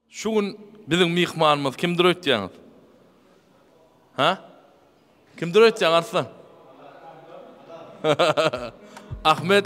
Şu gün biziň myhmanymyz kimdir öýtýäňiz? Ha? Kimdir öýtýäň Arslan? Ahmet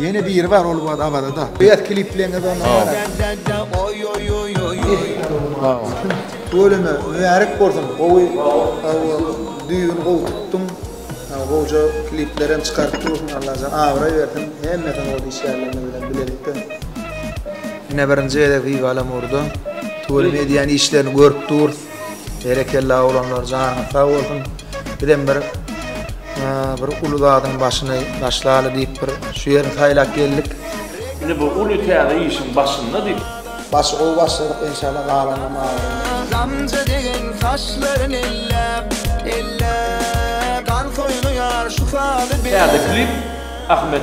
Ýene biri bar ol wagt Awazada. Beýat klipleňiz onda bar. Tüweleme mübärek bolsun gowy düýbüni gowy tutduň gowja kliplerem çykaryp dursuň Allajan abraý bersin hemmesini gowy işlärlerini bilen bilelikde. Ine birinji gezek Viva Lamurda Tüweleme edýän işlerini görüp durus. Berekella oglanlar janyňyz sag bolsun. Bizem bir bir uly zadyň başyny başlaly diýip bir şu ýerini saýlap geldik. Indi bu uly täze işiň başynda diýip. Başy gowy başladyk inşallah galany maňa. Gamja degen saçlaryn elläp, elläp. Gan soýnaýar şu sady bellep. Täze klip Ahmet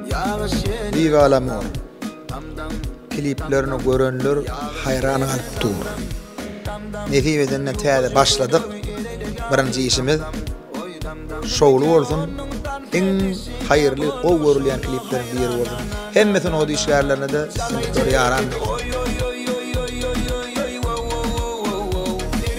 Bigalamyň kliplerini görenler haýran galyp dur. Nesip edende täze başladyk. Birinji işimiz şowly bolsun. Iň haýyrly, gowy görülýän klipleriň biri bolsun. Hemme sungat işgärlerine-de ýaran.